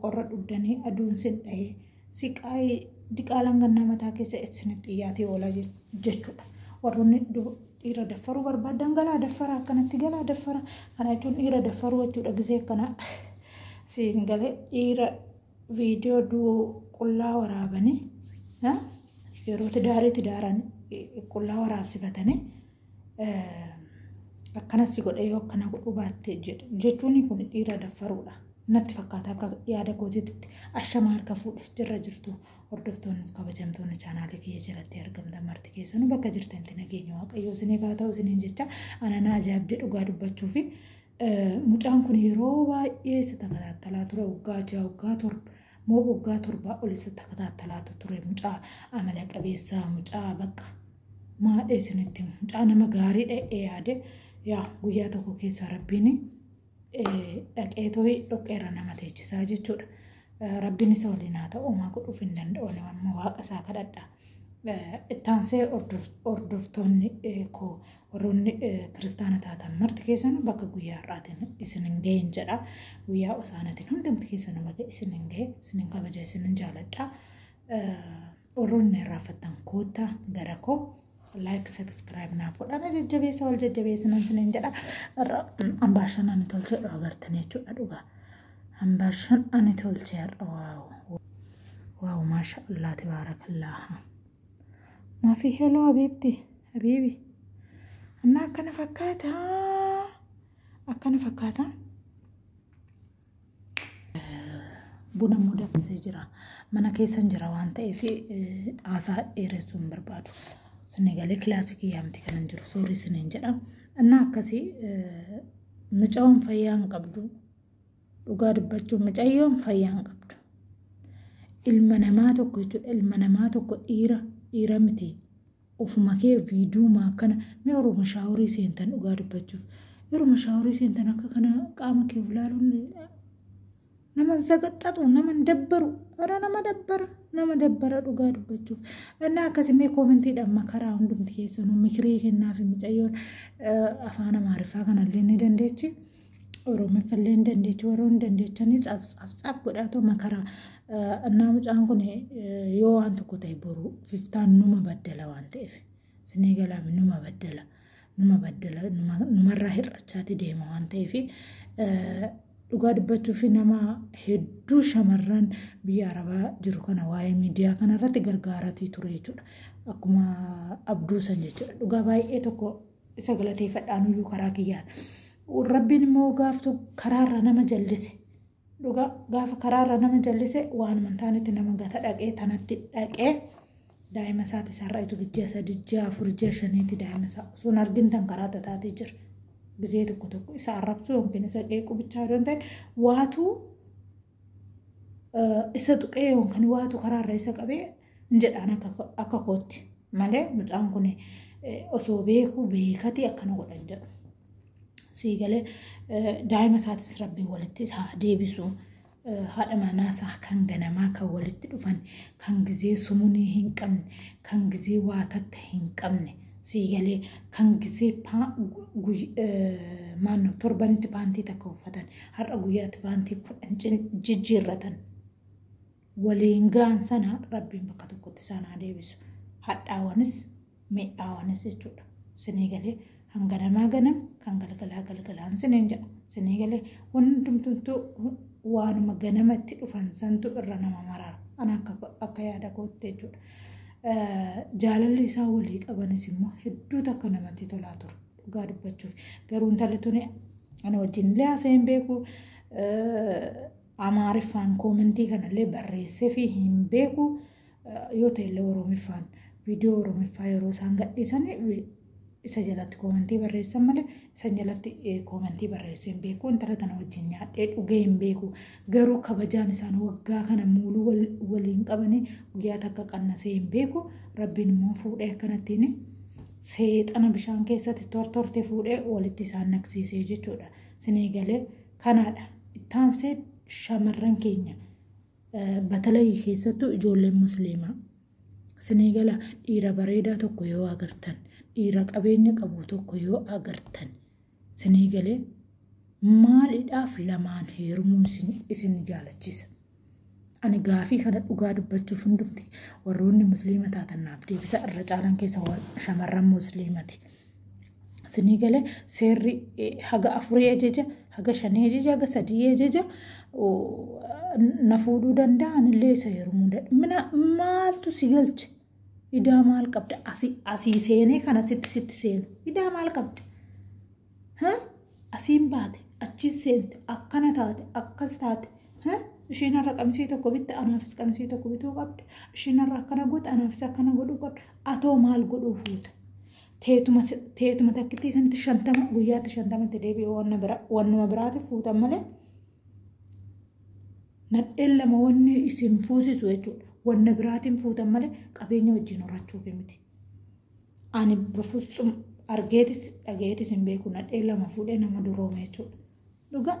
qorra dhugdanii aduun sin dhahee siqaayii diqaalaan gannaa mataa keessa isinitti dhiyaatee oola jechuudha. Warroonni dhiira daffaruu barbaadan galaa daffara akkanatti galaa daffara kana jechuun dhiira daffaruu jechuudha gisee akkana siin galee dhiira viidiyoo du'uu qullaa waraabanii yeroo tidaarii tidaaran qullaa waraabsifatanii akkana si godhe yoo akkana godhuu baatte jechuun kun dhiira daffaruudha. Natti fakkaata akka yaada kootiitti ashama harka fuudhe jirra jirtu hordoftoonni fi kabajamtoonni chaanaalii kiyya jalatti argamtan marti keessanuu bakka jirtanitti nageenya waaqayyoo isiniif haa ta'u isiniin jecha anana ajaa'ibdee dhugaa dubbachuu fi mucaan kun yeroo baay'ee isa takataattalaa ture waggaa ja'a waggaa torba moo waggaa torbaa ol isa takataattalaatu ture mucaa amala qabeessa mucaa bakka maadhe isinitti himu mucaa nama gaarii dha'ee yaade yaa guyyaa tokko keessa rabbiin dhaqee tooyi dhoqqeerra nama teechisaa jechuudha. Rabbiin isa waliin haa ta'u homaa godhuuf hin danda'u amma waaqa isaa kadhadha. Ittaansee hordoftoonni koo warroonni kiristaana taatan marti keessan bakka guyyaa har'aatiin isin hin ga'in jedha. Guyyaa osaanatiin hundumti keessan bakka isin hin ga'e isin hin kabaja isin hin jaaladha. Warroonni na irraanfattan koottaa gara koo like subscribe naaf godhaa na jajjabeessa wal jajjabeessinan sinin jedha irra ambaashan ani tolchee dhugaa agartan jechuudha dhugaa ambaashan ani tolchee har'a waawu waawu maasha allaa tabaarakallaaha maafii heloo habiibti habiibi annaa akkana fakkaata akkana fakkaata Buna immoo danfisee jira. Mana keessan jira waan ta'eef haasaa dheeressuu hin barbaadu. Sinni galee kilaasikii yaamti kan hin jiru soorii siniin jedha. Innaa akkasii mucaan fayyaa hin qabdu. Dhugaa dubbachuu mucayyoon fayyaa hin qabdu. Ilma namaa tokko jechuudha ilma namaa tokko dhiira dhiira miti. Ofuma kee video ma akkana mee oroma shaaworii seentan dhugaa dubbachuuf yeruma shaaworii seentan akka kana qaama kee of laaluun naman sagaxxatu naman dabbaru gara nama dabbara nama dabbara dhugaa dubbachuuf innaa akkasimee koomentiidhaan makaraa hundumti keessanuu mikirii kennaafi micayyoon afaan amaariffaa kanallee ni dandeechi Oromiffallee hin dandeechu warra hin dandeechanii caaf caaf caaf godhaatoo makaraa annaa mucaan kun yoo waan tokko ta'e boru fiftaan numa baddala waan ta'eef sinii galaami numa baddala numa baddala numarraa hir'achaati deema waan ta'eef dhugaa dubbachuu fi nama hedduu shamarran biyya arabaa jiru kana waa'ee miidiyaa kanarratti gargaaratii ture jechuudha akkuma abduu san jechuudha dhugaa baay'ee tokko isa galateeffadhaan iyyuu karaa kiyyaan. Rabbiin immoo gaaftu karaarra nama jallise. Dhugaa gaafa karaarra nama jallise waanuma taanetti nama gata dhaqee tanatti dhaqee daa'ima isaati isaarraa itti gijjaa sadii ji'a afur ji'a shaniitti daa'ima isaa osoo hin argin tan karaa tataatee jira. Gizee tokko tokko isa arrabsuu yookiin isa qeequu bichaa yoo ta'e waatuu isa tuqee yookaan waatu karaarra isa qabee hin jedhaan akka akka kootti malee mucaan kun osoo beekuu beekatii akkana godhan jedhu. Sii galee daa'ima isaatis rabbiin walitti isaa deebisu haadha manaa isaa kan ganamaa kan walitti dhufan kan gizee sumunii hin qabne kan gizee waa takka hin qabne sii galee kan gizee maannoo torbanitti paantii takka uffatan Har'a guyyaatti baantii kudhan jijjiirratan waliin ga'an sana rabbiin bakka tokkotti isaan haa deebisu. Hadhaawanis mi'aawanis jechuudha. Sinii galee hanga namaa ganam kan galgalaa galgalaan siniin jedha. Sinii galee hundumtuu waanuma ganama itti dhufan santu irra nama maraara. Ana akka yaada kootti jechuudha. Jaalalli isaan walii qabanis immoo hedduu takka namatti tolaa ture. Dhugaa dubbachuuf garuu intalli tuni ana wajjin illee haasa'ee hin beeku amaariffaan koomentii kanallee barreessee fi hin beeku yoo ta'e illee oromiffaan viidiyoo oromiffaa yeroo isaan gadhiisan isa jalatti koomentii barreessan malee isa jalatti koomentii barreessee hin beeku intala tana wajjin nyaadhee dhugee hin beeku garuu kabajaan isaan waggaa kana muuluu waliin qabanii guyyaa takka qannasee hin beeku rabbiin immoo fuudhee akkanattiin seexana bishaan keessatti tortorte fuudhee walitti isaan naqsiisee jechuudha. Sinii galee kanaadha. Ittaansee shamarran keenya batalayii keessattuu ijoolleen musliimaa. Sinii gala dhiira bareedaa tokko yoo agartan, dhiira qabeenya qabu tokko yoo agartan. Sinii galee maalidhaaf lamaan heerumuun isin, isin jaalachiisa? Ani gaafii kana dhugaa dubbachuuf hundumti warroonni musliima taatan naaf deebisa irra caalan keessa shamarran musliimati. Sinii galee seerri eh, haga afurii ajaja, haga shanii ajaja, haga sadii ajaja oh, na fuudhuu danda'a anillee isa heerumuu danda'a. Mina maaltu si galche? Idaa maal qabda? Asii asii seenee kana sitti sitti seenu. Idaa maal qabda? Ha? Asiin baate, achiin seente, akkana taate, akkas taate. Ha? Isheen har'a qamisii tokko bitte anaafis qamisii tokko bituu qabda. Isheen har'a akkana goote anaafis akkana godhuu qabda. Atoo maal godhuu fuuta? Teetuma teetuma takkittii sanitti shantama guyyaatti shantamatti deebi'ee wanna bira wannuma biraatiif fuutan malee. Nadheen lama wanni isin fuusisu jechuudha. Wanna biraatiin fuutan malee qabeenya wajjin horachuuf miti. Ani bafuutsum argeetis dhagayeetis hin beeku nadhee lama fuudhee nama duroome jechuudha. Dhugaa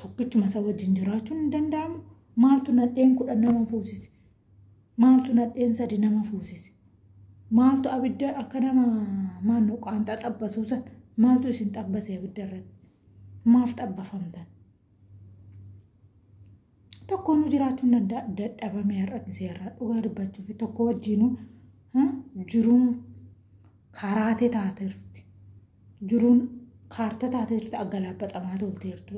tokkichuma isa wajjin jiraachuun hin danda'amu. Maaltu nadheen kudhan nama fuusise? Maaltu nadheen sadi nama fuusise? Maaltu abidda akka nama maanno qaanxaa xabbasuu san maaltu isin xabbase abidda irratti? Maaf xabbafamtan? Tokkoonu jiraachuun danda'a dadhabame har'a gisee har'a dhugaa dubbachuuf tokko wajjiinu jiruun karaate taateerti. Jiruun kaarta taateerti aggalaabaxamaa tolteertu.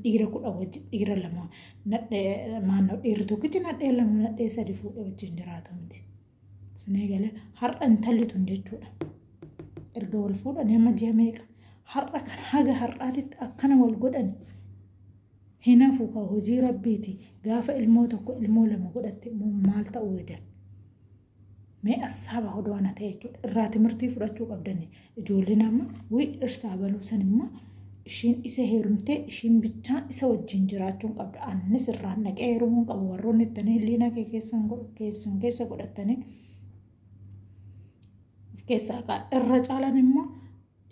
Dhiira kudha wajjin dhiira lama nadhee maannoo dhiirri tokkichi nadhee lama nadhee sadi fuudhee wajjin jiraatu miti. Sinee galee har'a intalli tun jechuudha. Erga wal fuudhan amma ji'a meeqa har'a kan haga har'aatitti akkana wal godhan hin hafu ka hojii rabbiiti gaafa ilmoo tokko ilmoo lama godhatte immoo maal ta'uu edan. Mee assaaba hodoo ana ta'e jechuudha. Irraa timirtii fudhachuu qabdani. Ijoolleen amma wii dhirsaa baluu san imma ishiin isa heerumtee ishiin bichaan isa wajjin jiraachuun qabda. Annis irraan dhaqee heerumuun qaba warroonni ittanii liina kee keessan keessan keessa godhattanii of keessaa qaa. Irra caalan immoo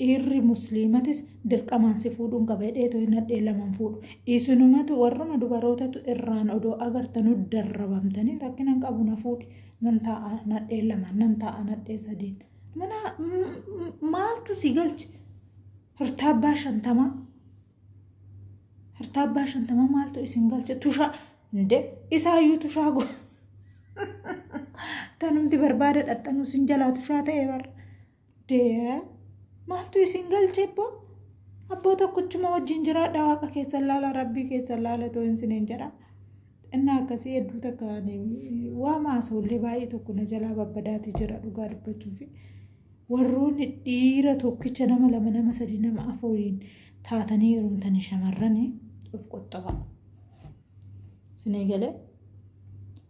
dhiirri musliimatis dirqamaan si fuudhuun qaba hidheetu hin hadhee laman fuudhu isinumatu warruma dubarootatu irraan odoo agartanuu darrabamtanii rakkinan qabu na fuudhi nan taa'a nadhee lamaan nan taa'a nadhee sadiin mana maaltu si galche hirtaabbaa shantamaa hirtaabbaa shantamaa maaltu isin galche tushaa inde isaayyuu tushaa go tanumti barbaada dhaxxanuu sin jalaa tushaa ta'e barra Dear, maaltu isin galche abboo? Abboo tokkochuma wajjin jiraadha waaqa keessan laala rabbii keessan laala too isiniin jedha. Innaa akkasii hedduu takka ani waan haasawullee baay'ee tokko na jalaa babbadaati jira dhugaa dubbachuuf. Warroonni dhiira tokkicha nama lama nama sadii nama afuriin taatanii heerumtanii shamarranii of qoxxabaa. Isinii galee?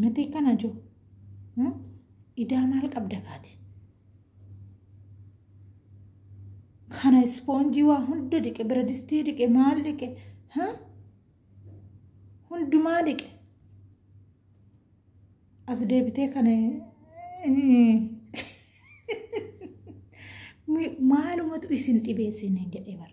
Mati kana jo. Hmm? Idaa maal qabda kaati? Kana ispoonjii waa hunda dhiqe, bira distii dhiqe, maal dhiqe? Ha? Hundumaa dhiqe. As deebitee kana maalumatu isin dhibeessiin hin jedhee bara.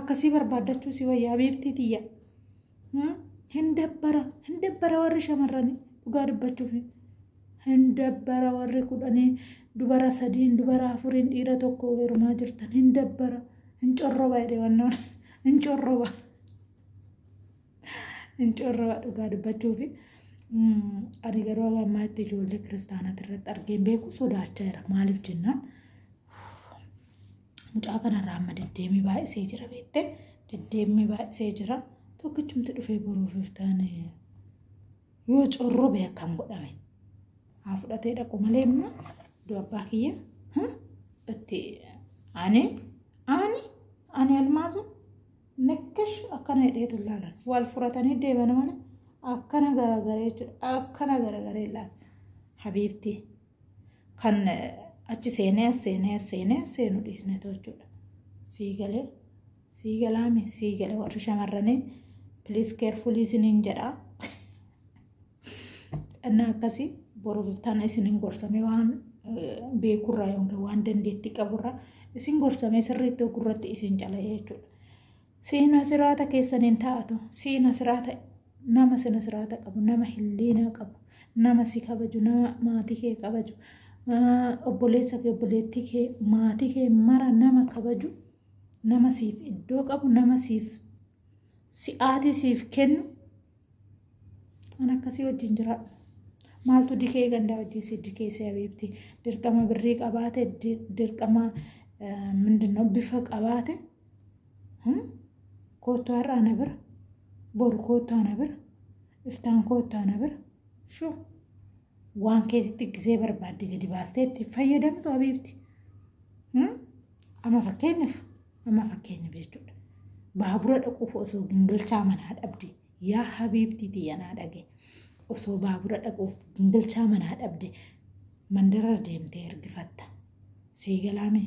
akkasii barbaaddachuu si wayya habiibtii tiyya hin dabbara hin dabbara warri shamarranii dhugaa dubbachuuf hin dabbara warri kudhanii dubara sadiin dubara afuriin dhiira tokko heerumaa jirtan hin dabbara hin corroba jedhe wannoon hin corroba hin corroba dhugaa dubbachuuf ani garuu ammaa itti ijoollee kiristaanaa irratti argeen beeku sodaachaa jira maaliif jennaan mucaa kanarraa amma deddeemii baay'isee jira beekte deddeemii baay'isee jira tokkichumti dhufee boruuf iftaan yoo corrobe akkam godhame haa fudhatee dhaqu malee immoo iddoo abbaa kiyya itti ani ani ani almaazu nakkash akkana hidheetu ilaalan wal furatanii deeman malee akkana garagaree jechuudha akkana garagaree ilaalan habiibtii. kan achi seenee as seenee as seenee as seenu dhiisne too jechuudha. Sii galee sii galaame sii gale warri shamarranii piliis keerfulii isiniin jedhaa. Dhannaa akkasii boruuf iftaan isiniin gorsamee waan beekurraa yookiin waan dandeettii qaburraa isin gorsamee sirriitti ogurratti isin cala'ee jechuudha. Siina siraata keessan hin taatu. Siina siraata nama sina siraata qabu, nama hilliinaa qabu, nama si kabaju, nama maatii kee kabaju, obboleessa kee, obboleettii kee, maatii kee mara nama kabaju, nama siif iddoo qabu, nama siif si'aatii siif kennu An akkasii wajjin jiraadhu. Maaltu dikee gandaa wajjin si dikeessee habiibti. Dirqama birrii qabaate, di- dirqama eh, mindinoo bifa qabaate. Hmm? Koottu har'a ana bira. Boru koottu ana bira. Iftaan koottu ana bira. Shuu. Waan keetitti gisee barbaadde gadi baastee itti fayyadamtu habiibti. Hmm? Amma fakkeenyaaf Amma fakkeenyaaf jechuudha. Baabura dhaquuf osoo gingilchaa manaa dhabde yaa habiibtii tiyya naa dhage osoo baabura dhaquuf gingilchaa manaa dhabde mandara deemtee ergifatta. Sii galaame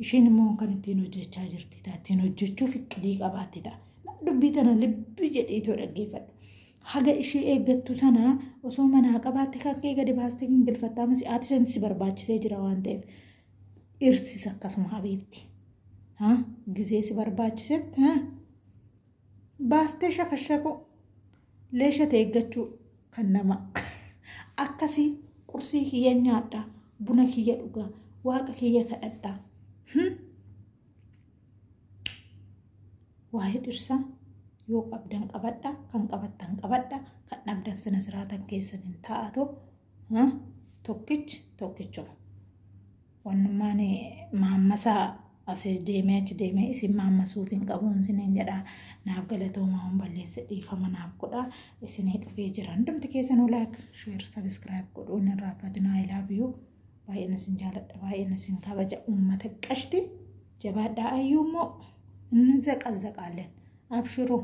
ishiin immoo kan ittiin hojjechaa jirti ta'a. Ittiin hojjechuuf iqilii qabaatti ta'a. Dubbii tana libbi jedhiitoo dhaggeeffadhu. Haga ishii eeggattu sana osoo manaa qabaatte kakkee gadi baastee gingilfatta ammas ati san si barbaachisee jira waan ta'eef. Dhirsis akkasuma habiibti. Ha? Gizee si barbaachisetti ha? Baastee shafashakuu. Leesha ta'e eeggachuu kan nama. Akkasii qursii kiyya nyaadha. Buna kiyya dhugaa. Waaqa kiyya kadhadha. Hmm? Waa'ee dhirsaa yoo qabdan qabadha kan qabattan qabadha kan dhabdan sina siraatan keessan hin taa'atu tokkichi tokkichuma wannummaan maammasaa asii deemee achi deemee isin maammasuuf hin qabuun isiniin jedha naaf galatoomaa waan balleesse dhiifama naaf godha isinii dhufee jira hundumti keessan olaak sheer sabiskiraayib godhuun hin raaffatinaa ilaafiyuu baay'een isin jaaladha baay'een isin kabaja uummata qashti jabaadhaa ayyuu immoo inni zaqazaqaalleen abshiruu.